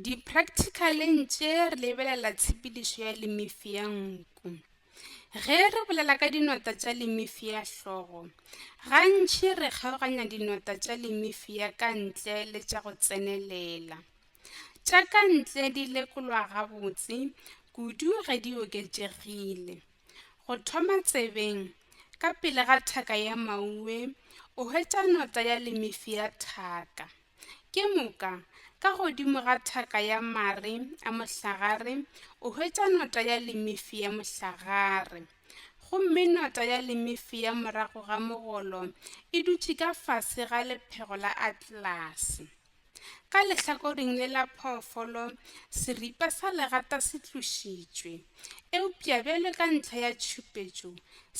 Di-practical-eng tše re lebelela tshepedišo ya limifi ya nku. Ge re bolela ka dinota tša limifi ya hlogo, gantši re kgaoganya dinota tša limifi ya ka ntle le tša go tsenelela. Tša ka ntle di lekolwa gabotse kudu ge di oketšegile. Go thoma tsebeng, ka pele ga thaka ya maue, o hwetša nota ya lemefi ya thaka. Ke moka, ka godimo ga thaka ya mare a mohlagare, o hwetša nota ya lemefi ya mohlagare. Gomme nota ya lemefi ya morago ga mogolo e dutše ka fase ga lephego la atlelase. Ka lehlakoring le la phoofolo, seripa sa legata se tlošitšwe, eupša bjale ka ntlha ya tšhupetšo,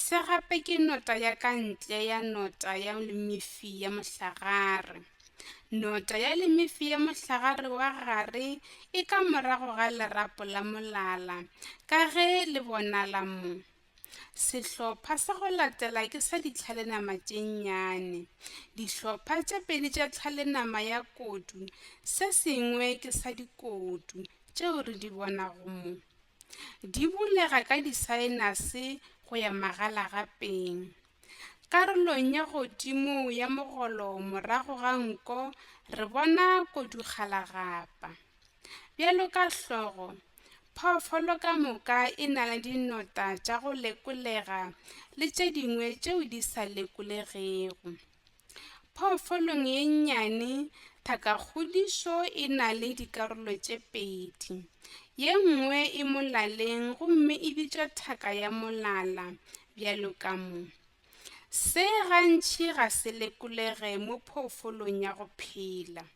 se gape ke nota ya ka ntle ya nota ya lemefi ya mohlagare. Nota ya lemefi ya mohlagare wa gare e ka morago ga lerapo la molala, ka ge le bonala mo. Sehlopha sa go latela ke sa ditlhalenama tše nnyane. Dihlopha tše pedi tša tlhalenama ya kodu, se sengwe ke sa dikodu tšeo re di bonago mo. Di bulega ka disaenase go ya magalagapeng. Karolong ya godimo ya mogolo morago ga nko re bona kodukgalagapa. Bjalo ka hlogo, phoofolo ka moka e na le dinota tša go lekolega le tše dingwe tšeo di sa lekolegego. Phoofolong ye nnyane, thakakgodišo e na le dikarolo tše pedi. Ye nngwe e molaleng gomme e bitšwa thaka ya molala, bjalo ka mo. Se gantši ga se lekolege mo phoofolong ya go phela.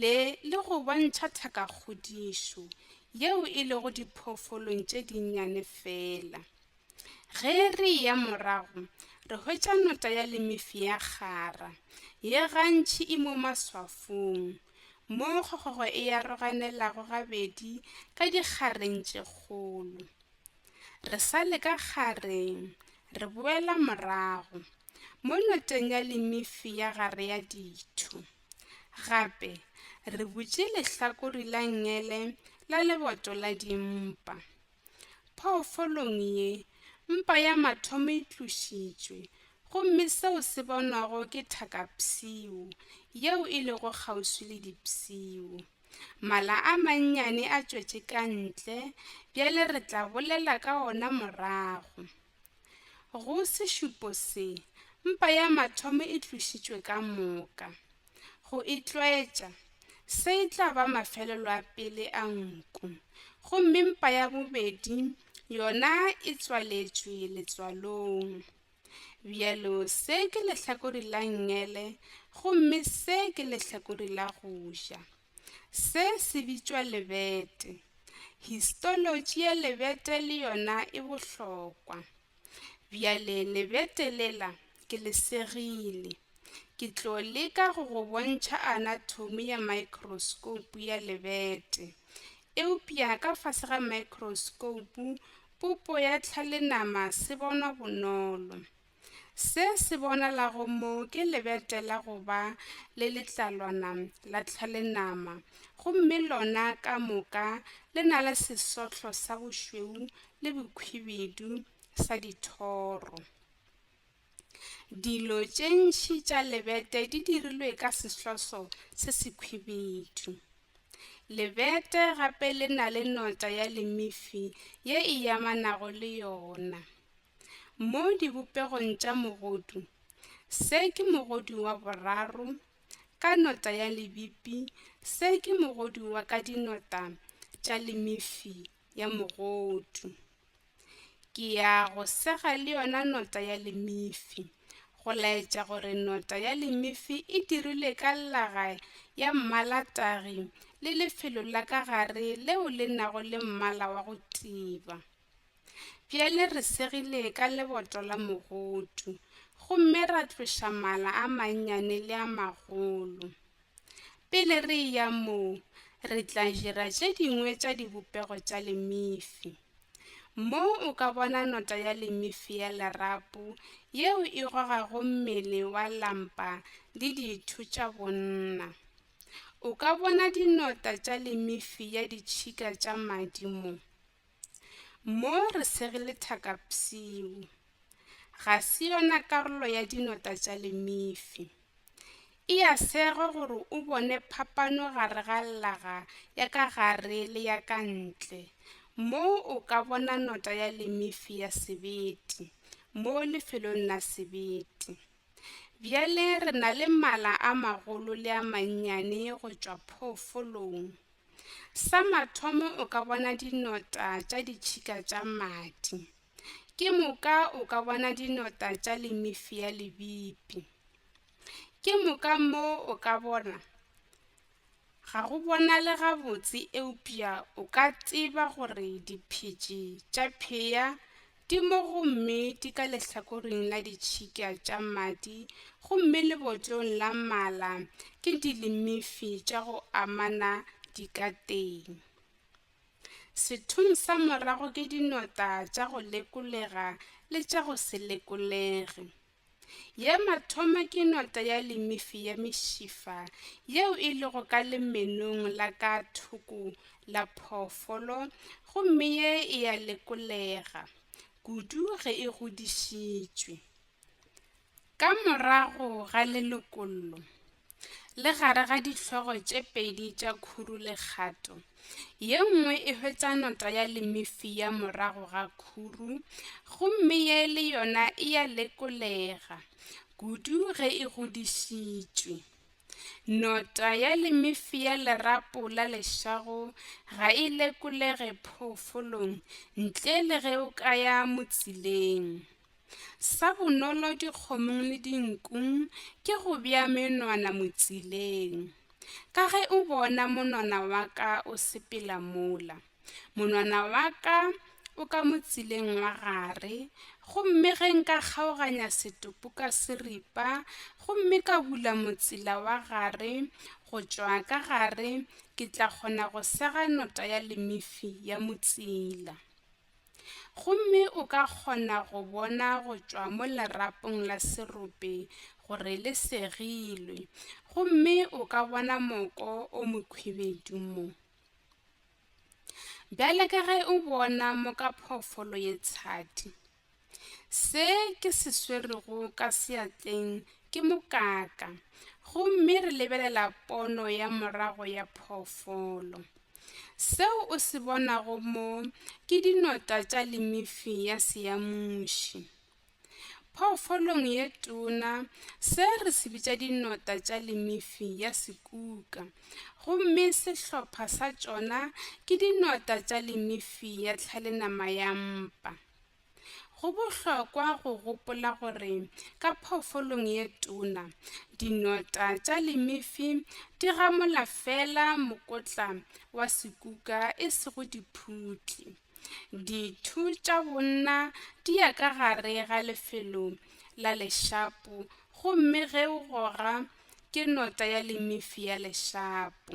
le le go bontšha thakakgodišo yeo e lego diphoofolong tše dinnyane feela. Ge re eya morago, re hwetša nota ya lemefi ya kgara, ye gantši e mo maswafong, moo kgokgogo e aroganelago gabedi ka dikgareng tše kgolo. Re sa le ka kgareng, re boela morago, mo noteng ya lemefi ya gare ya ditho. Gape re butše lehlakore la ngele la leboto la dimpa. Phoofolong ye, mpa ya mathomo e tlošitšwe, gomme seo se bonwago ke thakapshio yeo e lego kgauswi le dipshio. Mala a mannyane a tšwetše ka ntle, bjale re tla bolela ka ona morago. Go sešupo se, mpa ya mathomo e tlošitšwe ka moka. Go e tlwaetša, se e tla ba mafelelo a pele a nku, gomme mpa ya bobedi yona e tswaletšwe letswalong. Bjalo se ke lehlakori la ngele, gomme se ke lehlakori la go ja. Se se bitšwa lebete. Histolotši ya lebete le yona e bohlokwa. Bjale lebete lela ke le segile. Ke tlo leka go go bontšha anatomi ya microscope ya lebete. Eupša ka fase ga microscope Popo ya tlhalenama se bonwa bonolo. Se se bonalago mo ke lebete la go ba le letlalwana la tlhalenama gomme lona ka moka le na le sesohlo sa bošweu le bokhwibidu sa dithoro. Dilo tše ntši tša lebete di dirilwe ka sehloso se sekhwibidu. Lebete gape le na le nota ya lemifi ye e amanago le yona. Mo dibopegong tša mogodu, se ke mogodu wa boraro ka nota ya lebipi, se ke mogodu wa ka dinota tša lemifi ya mogodu. Ke ya go sega le yona nota ya lemifi, go laetša gore nota ya lemifi e dirilwe ka llaga ya mmalatagi le lefelo la ka gare leo le nago le mmala wa go tiba. Bjale re segile ka leboto la mogodu, gomme ra tloša mala a mannyane le a magolo. Pele re eya moo, re tla dira tše dingwe tša dibopego tša lemifi. Mo o ka bona nota ya lemifi ya lerapo yeo e gogago mmele wa lampa le ditho tša bonna. O ka bona dinota tša lemifi ya ditšhika tša madi mo. Mo re sege lethaka psiu. Ga se yona karolo ya dinota tša lemifi. E ya sego gore o bone phapano gare ga llaga ya ka gare le ya ka ntle. Mo o ka bona nota ya lemifi ya sebete mo lefelong la sebete. Bjale re na le mala a magolo le a mannyane go tšwa phoofolong. Sa mathomo o ka bona dinota tša ditšhika tša madi. Ke moka o ka bona dinota tša lemifi ya lebipi. Ke moka mo o ka bona ga go bonale gabotse eupša o ka tseba gore diphetši tša phea Di mo gomme di ka lehlakoring la ditšhika tša madi gomme lebotlong la mala ke dilimifi tša go amana di ka teng. Sethong sa morago ke dinota tša go lekolega le tša go se lekolege. Ye mathoma ke nota ya limifi ya mešifa yeo e lego ka lemenong la ka thoko la phoofolo gomme ye e ya lekolega kudu ge e godišitšwe. Ka morago ga lelokollo, le gare ga dihlogo tše pedi tša khuru le kgato. Ye nngwe e hwetša nota ya lemifia morago ga khuru, gomme ye le yona e ya lekolega, kudu ge e godišitšwe. Nota ya lemifia lerapo la lešago ga e lekolege phoofolong ntle le ge o ka ya motsileng. Sa bonolo dikgomong le dinkung ke go bea menwana motsileng. Ka ge o bona monwana wa ka o sepela mola, monwana wa ka o ka motsileng wa gare, gomme ge nka kgaoganya setopo ka seripa gomme ka bula motsila wa gare go tšwa ka gare, ke tla kgona go sega nota ya lemifi ya motsila. Gomme o ka kgona go bona go tšwa mo lerapong la serope gore le segilwe. Gomme o ka bona moko o mokhwibedu mo. Bjale ka ge o bona mo ka phoofolo ye tshadi. Se ke se swerego ka seatleng ke mokaka gomme re lebelela pono ya morago ya phoofolo. Seo o se bonago mo ke dinota tša limifi ya seamuši. Phoofolong ye tona se re se bitša dinota tša limifi ya sekuka gomme sehlopha sa tšona ke dinota tša limifi ya tlhalenama ya mpa. Go bohlokwa go gopola gore ka phoofolong ye tona, dinota tša limifi di gamola feela mokotla wa sekuka e sego diphutli. Dithu tša bonna di ya ka gare ga lefelo la lešapo gomme ge o goga ke nota ya limifi ya lešapo.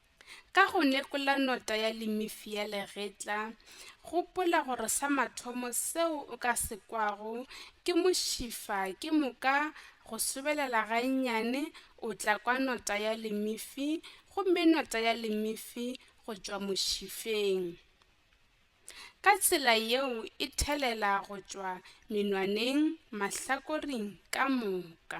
Ka go nekola nota ya limifi ya legetla, gopola gore sa mathomo seo o ka se kwago ke mošifa ke moka go sobelela gannyane o tla kwa nota ya limifi gomme nota ya limifi go tšwa mošifeng. Ka tsela yeo e thelela go tšwa menwaneng mahlakoring ka moka.